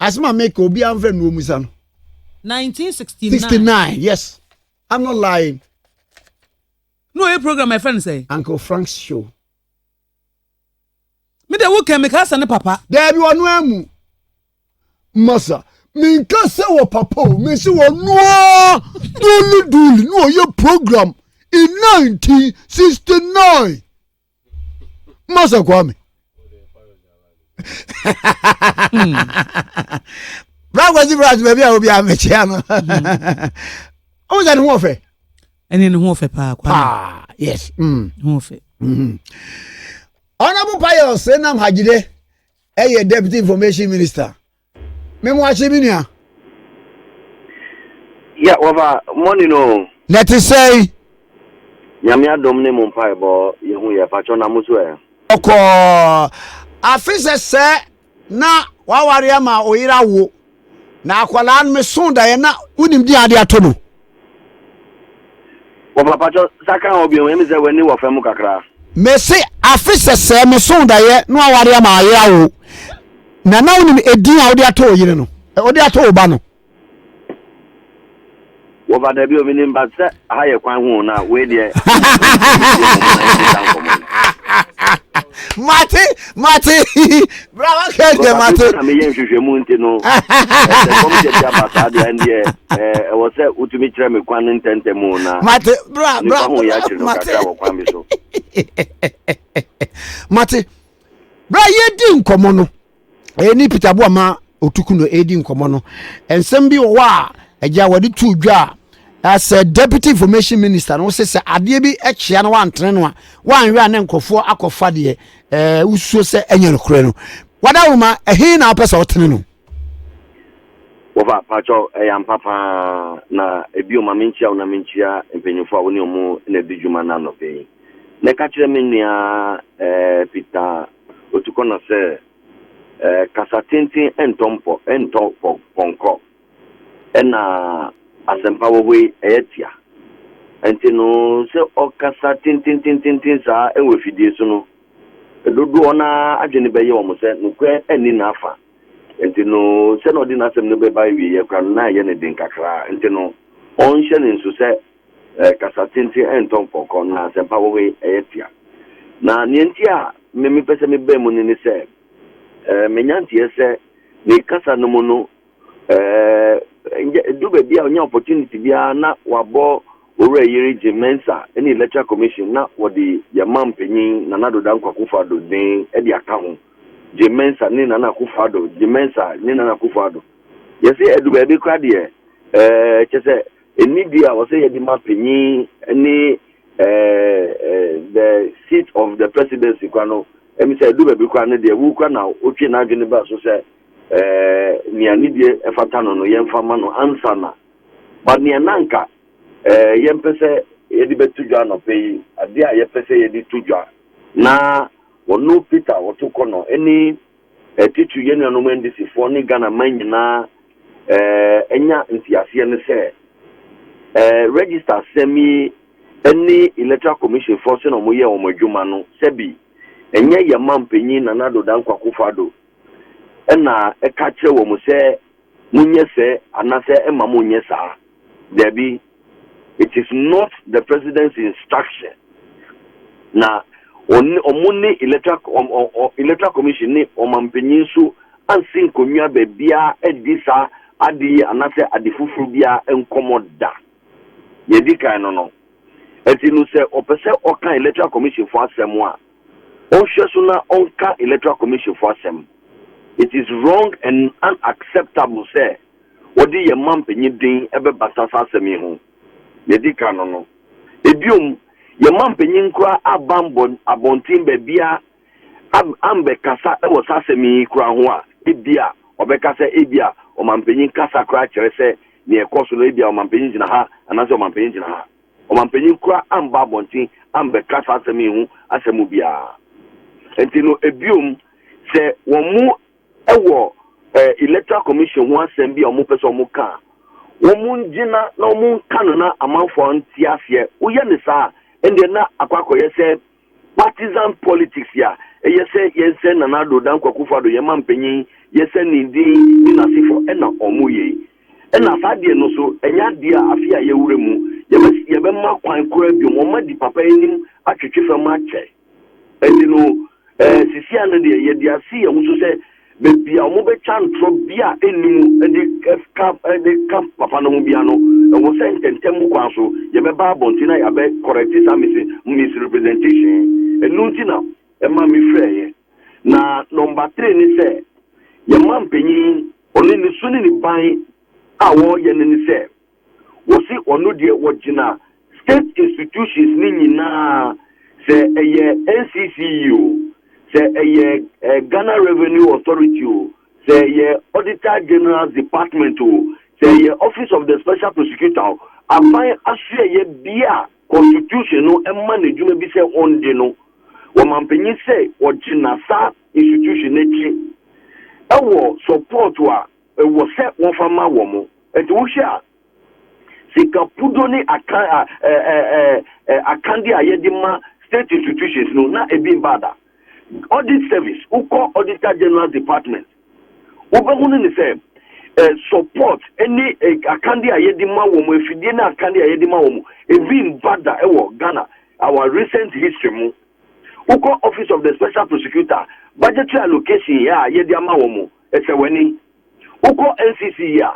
Asem a meka obiara mfrɛ no omusa no. 1969. 69 yes I'm not lying. No ɔyɛ program a yɛfrɛ no sɛ. Uncle Frank's show. Me de wo kɛn meka sɛ ne papa. Daabi ɔno amu. Masa menka sɛ wɔ papa o mese wɔnoa duli duli ne ɔyɛ program in 1969 masa kwame brakwasi hmm. braj baabi a obi a mekyea no ɔmo sɛ ne ho ɔfɛ ɛne ne ho ɔfɛ paa paa yes hmm. ne ho ɔfɛ ɔnabo hmm. payɛ ɔsɛ nam hajide ɛyɛ deputy information minister Me mo akye me nua. Yeah, wɔfa money no. Na ɛte sɛn? Nyame adom ne mo mpaebɔ yɛhu yɛ pakyɛ na mo so ɛ? Ɔkɔɔ afe sɛ sɛ na waware ama oyere awo na akwadaa no meso daeɛ na wonim deɛ ade ato no. Wɔ papatwɔ sa kan hɔ biom emi sɛ w'ani wɔ fɛ mu kakraa. Me se afe sɛsɛɛ me soo daeɛ no aware ama ayɛ awo na na wonim edin a wode ato wo yere no wode ato wo ba no. Wɔfa dabi o menim but sɛ aha yɛ kwan ho o na wei deɛ mate mate Bra wa kɛ kɛ ma te. Na meyɛ nhwehwɛmu nti no sɛ nkɔmhyɛ bi aba saa deɛ ɛndeɛ ɛwɔ sɛ wotumi kyerɛ me kwan ntɛntɛm o na mate bra bra ho yɛ akyere no kakra wɔ kwan bi so mate bra yɛdi nkɔmmɔ no ɛni peter boa ma otuku no ɛdi nkɔmmɔ no nsɛm bi wɔ hɔ a agya wɔde tu dwa a as a deputy information minister no sɛ sɛ adeɛ bi kyea no wantene no a wanhwɛ a ne nkurɔfoɔ akɔfa deɛ Ɛɛ, wususuo sɛ ɛnyɛ nokorɛ no? W'adawuruma, ɛhe na wopɛ sɛ wotene no? Wɔfa, paatwɔ, ɛyɛ ampa pa ara, na bio ma menkyia wo na menkyia mpanyimfoɔ a wo ne wɔn na adi dwuma nnɛ anɔpa yi. Na ka kyerɛ me nua, ɛɛ, Peter Otukona sɛ, ɛɛ, kasa tenten ntɔ mpɔ, ntɔ pɔ, pɔnkɔ. na asɛmpa wɔ hɔ yi yɛ tia. Nti no sɛ ɔkasa tententententen saa wɔ afidie so no, dodoɔ no ara adwene bɛyɛ wɔn sɛ nokorɛ nni n'afa. Nti no sɛdeɛ ɔde n'asɛm no bɛba awieeɛ koraa no na ɛyɛ no den kakra. Nti no ɔnhyɛ no nso sɛ kasa tenten ntɔ mpɔnkɔ na asɛmpa wɔ hɔ yi yɛ tia. Na deɛ nti a me mepɛ sɛ mebaa mu no ne sɛ, menya nteɛ sɛ ne kasa no mu no Ɛɛ, ngyɛ edu beebi a onya opportunity biara na ɔabɔ Owura Yeri Jim Mensah ne Electoral Commission na wɔde yɛn man panyin Nana Addo Dankwa Akufo-Addo dzin de aka ho, Jim Mensah ne Nana Akufo-Addo, Jim Mensah ne Nana Akufo-Addo. Yɛse edu beebi koraa deɛ, ɛɛ, kyerɛ sɛ enidie a ɔsɛ yɛde ma panyin ne, ɛɛ, the seat of the presidency koraa no, emi sɛ edu beebi koraa no deɛ, wo koraa na wotwee n'adwene baa so sɛ, eh, nea ne die ɛfata no no yɛmfa ma no ansa na ba nea na anka eh, yɛmpɛ sɛ yɛde bɛto dwa anɔpɛ yi adeɛ a yɛpɛ sɛ yɛde to dwa na wɔno peter wɔto kɔ no ɛne eh, titiri yɛn nuanom andisifoɔ ne ghana man nyinaa eh, ɛnya nteaseɛ ne sɛ eh, register asɛm yi ɛne electoral commission foɔ sɛ na wɔyɛ wɔn adwuma no sɛbi ɛnyɛ yɛn ma mpanyin nana dodan kwakofa do ɛna ɛka kyerɛ wɔn sɛ monyɛ sɛ anasɛ ɛma monyɛ saa. Dabi, it is not the president's instruction. Na wɔn ne electoral commission ne ɔmampanyin nso ansi nkonnwa baabiara adi saa ade yi anasɛ ade foforo biara nkɔmmɔ da. Nea edi kan no no, ɛnti no sɛ ɔpɛ sɛ ɔka electoral commission fo asɛm a, Ɔnhwɛ so na ɔnka Electoral Commission fo asɛm. It is wrong and unacceptable sɛ wɔde yɛn mampanyin din bɛbata saa asɛm yi ho. Nea edi kan no no, biom, yɛn mampanyin koraa aba ambɔ abɔnten baabiara am ambɛkasa wɔ saa asɛm yi koraa ho a ebia ɔbɛka sɛ ebia ɔmampanyin kasa koraa kyerɛ sɛ nea ɛkɔ so no ebia ɔmampanyin gyina ha anaasɛ ɔmampanyin gyina ha. Ɔmampanyin koraa ammba abɔnten ammbɛka saa asɛm yi ho asɛm mu biara. Ntsi no, bio mu, sɛ wɔwɔ Electoral Commission ho asɛm bi a wɔpɛ sɛ wɔka a, wɔngyina na wɔnka no na amamfo a wɔnntse aseɛ woyɛ no saa a, ndeɛ na akɔ akɔyɛ sɛ Partisan politics a ɛyɛ sɛ yɛnsɛe Nana Addo Dankwa Akufo-Addo yɛn mampanyin, yɛsɛe ne din ne n'asefo na wɔyɛ yi. Ɛna saa adeɛ no nso ɛnyɛ adeɛ a afe a yɛawura mu yɛbɛ yɛbɛma kwan koraa biom. Wɔn adi papa anim atwetwe fam akyɛ. Ɛnti no ɛɛ sisia no deɛ yɛde asi yɛn ho so sɛ Baabi a wɔbɛtwa ntorɔ bi a ɛnni mu de ka de ka papa no ho biara no, ɛwɔ sɛ ntɛmntɛm mu kwan so yɛbɛba abɔnten na yɛabɛ correct saa mis misrepresentation yi. Ɛno nti na ɛma mefrɛeɛ. Na number three ne sɛ, yɛn manpanin, ɔne ne su ne ne ban a wɔyɛ no ne sɛ, Wɔse ɔno deɛ wɔgyina state institutions no nyinaa sɛ ɛyɛ NCCE o, sɛ ɛyɛ Ghana Revenue Authority o, sɛ ɛyɛ Auditor General's Department o, sɛ ɛyɛ Office of the Special Prosecutor o, aban asoɛeɛ biara a constitution no ma no adwuma bi sɛ ɔndi no, wɔmanpanyin sɛ ɔgyina saa institution no akyi ɛwɔ support a. Ɛwɔ sɛ wɔfa ma wɔn. Enti wohwɛ a, sika pudo ne akan a ɛ ɛ ɛ ɛ akande a yɛde ma state institutions no, na ebi mba da. Audit service, wokɔ Auditor General's Department, wobɛhunu no sɛ ɛ support ne ɛ akande a yɛde ma wɔn, afidie ne akande a yɛde ma wɔn, ebi mba da wɔ Ghana, our recent history mu. Wokɔ Office of the Special Prosecutor, budgetary allocation a yɛde ama wɔn, Ɛsɛ w'ani. Wokɔ NCC yi a,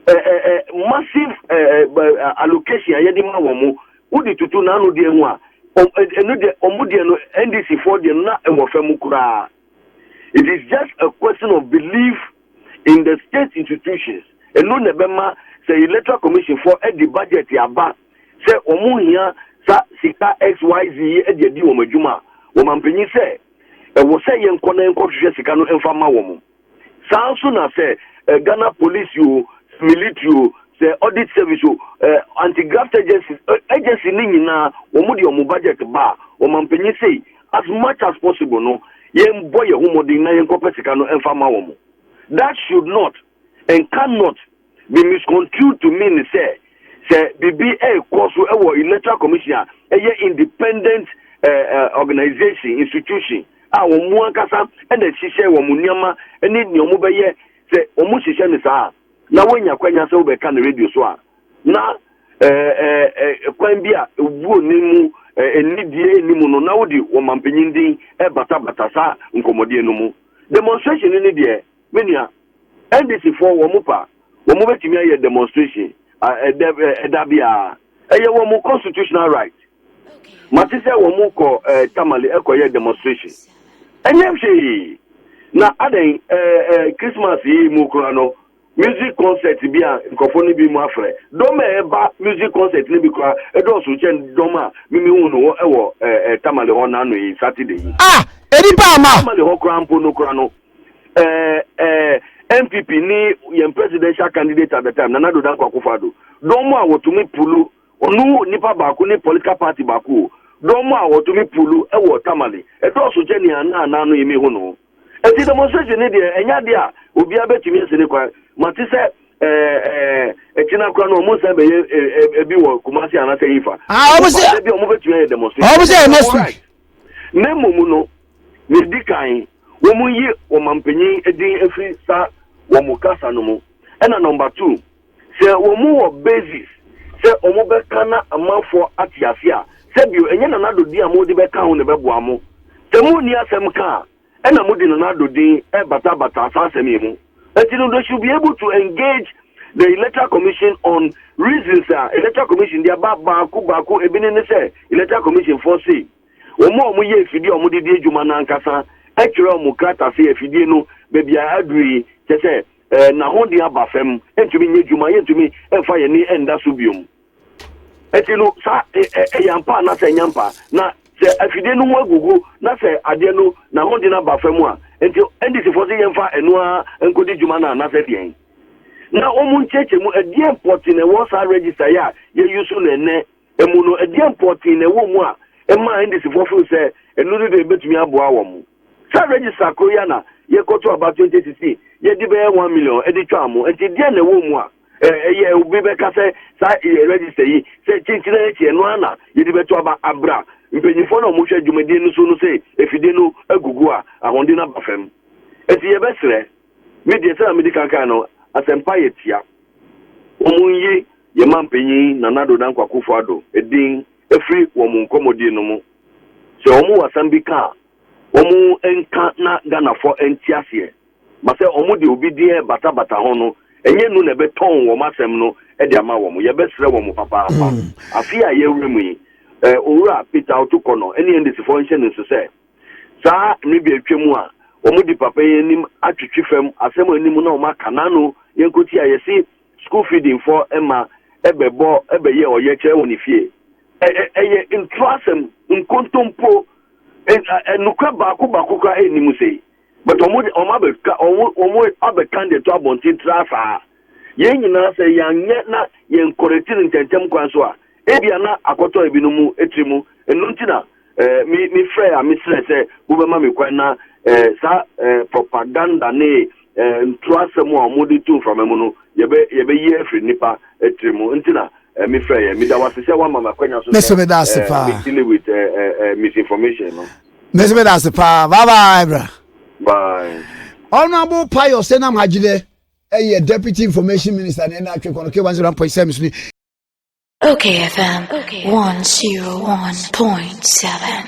ɛ ɛ ɛ massive ɛ ɛ ɛ allocation a yɛde ma wɔn, wode toto n'ano deɛ ho a, wɔn ɛ ɛno deɛ wɔn deɛ no, NDC foɔ deɛ no na ɛwɔ fam koraa. It is just a question of belief in the state institutions. Ɛno na ɛbɛma sɛ Electoral Commission foɔ de budget aba sɛ wɔn hia saa sika XYZ yi de adi wɔn adwuma a, wɔn ampanyin sɛ Ɛwɔ sɛ yɛn kɔ na yɛn kɔ hwehwɛ sika no nfa ma wɔn. Saa nso na sɛ Ghana polisi o, militiri o, sɛ audit service o, anti graft agencies, agency no nyinaa wɔn de wɔn budget ba a, ɔmanpanyin sei as much as possible no yɛn bɔ yɛn ho mmɔden na yɛn kɔ pɛ sika no nfa ma wɔn. That should not. and can not be misconstrued to mean sɛ sɛ biribi rekɔ so wɔ electoral commission a ɛyɛ independent eh, eh, organization institution a wɔn mu ankasa na ɛhyehyɛ wɔn nneɛma ne nea wɔbɛyɛ sɛ wɔn hyehyɛ no saa na wɔnya kwanya sɛ wɔbɛka no radio so a na eh, eh, eh, kwan bi a ewuo ne mu eh, nnidie ne mu no na wode wɔn mampanyin din ɛbatabata saa nkɔmmɔdeɛ no mu demonstration no ne deɛ Me nua, NDC foɔ wɔn pɛ a, wɔn bɛtumi ayɛ demonstration ɛdɛ ɛda biara. Ɛyɛ wɔn constitutional right. Mate sɛ wɔn kɔ ɛɛ Tamale ɛkɔ yɛ demonstration. Ɛnyɛ hwee. Na adɛn ɛɛ ɛɛ Christmas yi mu kura no, music concert bi a nkurɔfoɔ no bi mu afrɛ. Dɔm a ɛba music concert no bi kura ɛdɔɔso kyɛn dɔm a mimi hu no wɔ ɛɛ ɛɛ Tamale hɔ n'ano yi Saturday yi. Ah! Ɛnipa ama. Tamale hɔ kura mpo no kura no. ɛɛ ɛɛ npp ne yɛn presidential candidate at the time nana do danko akufado dɔn mu a wɔtumi pulu ɔno nipa baako ne political party baako o dɔn mu a wɔtumi pulu ɛwɔ tamale ɛdɔɔso kyɛ nea na anan no yɛmi ho no ɛti demonstration ne deɛ ɛnya deɛ a obiara bɛtumi asi ne kwan ma te sɛ ɛɛ ɛɛ ɛkyina kora no ɔmo nsan bɛyɛ ɛɛ ɛbi wɔ kumasi anasɛ yifa ah ɔmo sɛ ɛbi ɔmo bɛtumi ayɛ demonstration ɔmo sɛ ɛma su ne mmom no ne di kan. Wɔnyi wɔn mampanyin din mfiri saa wɔn kasa no mu. Ɛna number two, sɛ wɔn wɔ basis sɛ wɔn bɛka na amanfoɔ ate aseɛ a, sɛ bio, ɛnyɛ Nana Addo din a mo de bɛka ho na ɛbɛboa mo. Sɛ mo nni asɛm ka a, ɛna mo de Nana Addo din rebata bata saa asɛm yi mu. Ɛnti no, they should be able to engage the Electoral Commission on reasons a Electoral Commission de aba baako baako, ɛbi ne ne sɛ Electoral Commission foɔ sei. Wɔn a wɔyɛ afidie a wɔde di adwuma no ankasa twerɛɛ wɔn krata sɛ afidie no baabi a aduru yi, kyerɛ sɛ eh, n'ahoɔden aba fam, ɛntumi nyɛ adwuma, yɛntumi mfa yɛn ani nda so biom. Ɛti no, saa eh, eh, ɛyɛ ampa a na sɛ ɛnyɛ ampa, na sɛ afidie no ho agugu na sɛ adeɛ no n'ahoɔden aba fam a, nti NDCfoɔ sɛ yɛmfa ɛno ara nkɔdi dwuma no anasɛ deɛn? Na wɔn nkyerɛkyerɛ mu, ɛdeɛ mpɔte na ɛwɔ saa register yi a yɛyi so no ɛnɛ mu no, ɛdeɛn pɔtee na ɛwɔ mu a ɛma NDCfoɔ feel sɛ ɛno no deɛ ɛbɛtumi aboa wɔn? Saa register koro yi ara na yɛkɔto aba 2016, yɛde bɛyɛ one million ɛde twaa mo, nti deɛn na ɛwɔ mu a ɛyɛ obi bɛka sɛ saa register yi sɛ kyenkyena akyi ɛno ara na yɛde bɛto aba abra mpanyinfoɔ na wɔhwɛ dwumadie no so no sɛ efidie no agugu a ahoɔden no aba fam? Nti yɛbɛsrɛ. Me deɛ sɛdeɛ medi kan kae no, asɛmpa yɛ tia. Wɔnyi yɛn mampanyin Nana Addo Dankwa Akufo Addo din firi wɔn nkɔmmɔdie no mu. Sɛ wɔn wɔ asɛm bi ka a, wɔn nka na Ghanafoɔ nte aseɛ. Ma sɛ wɔn de obi din rebata bata ho no, ɛnyɛ nu na ɛbɛtɔn wɔn asɛm no de ama wɔn. Yɛbɛsrɛ wɔn papaapa. Afe a yɛrewura mu yi, Owura Peter Otto Kono ne NDCfoɔ nhyɛ no nso sɛ, Saa mmere bi a atwam a wɔde papa yi anim atwetwe fam asɛm anim na wɔaka n'ano yɛnkosi a yɛse school feeding fɔ mma bɛbɔ bɛyɛ ɔyɛkyerɛ wɔ ne fie. Ɛ, ɛ, ɛyɛ ntorɔasɛm, nkontompo. Ɛ, ɛ, nokorɛ baako baako koraa nni mu sei. But ɔmo de ɔmo abɛka ɔmo ɔmo abɛkan de to abɔnten tra saa. Yɛn nyinaa sɛ yɛanyɛ na yɛn kɔrɛti no ntɛntɛm kwan so a, ebia na akɔtɔ ebinom mu tiri mu. Ɛno nti na eh, me me frɛ a mesrɛ sɛ mobɛma me kwan na eh, saa eh, propaganda ne eh, ntorasɛm a ɔmo de to mframa mu no yɛbɛ yɛbɛyi afiri nipa eh, tiri mu. Nti na eh, me frɛ yɛ. Meda wase sɛ wama me akwanya so Me sɛ nso meda ase eh, paa. me deal with eh, eh, eh, misinformation no. Mese me dase paa. Bye bye bra. Bye. Honorable Pius Enam Hajide ɛyɛ Deputy Information Minister na ɛna atwe kɔnɔ K1 zero point seven ni. Okay FM one zero one point seven.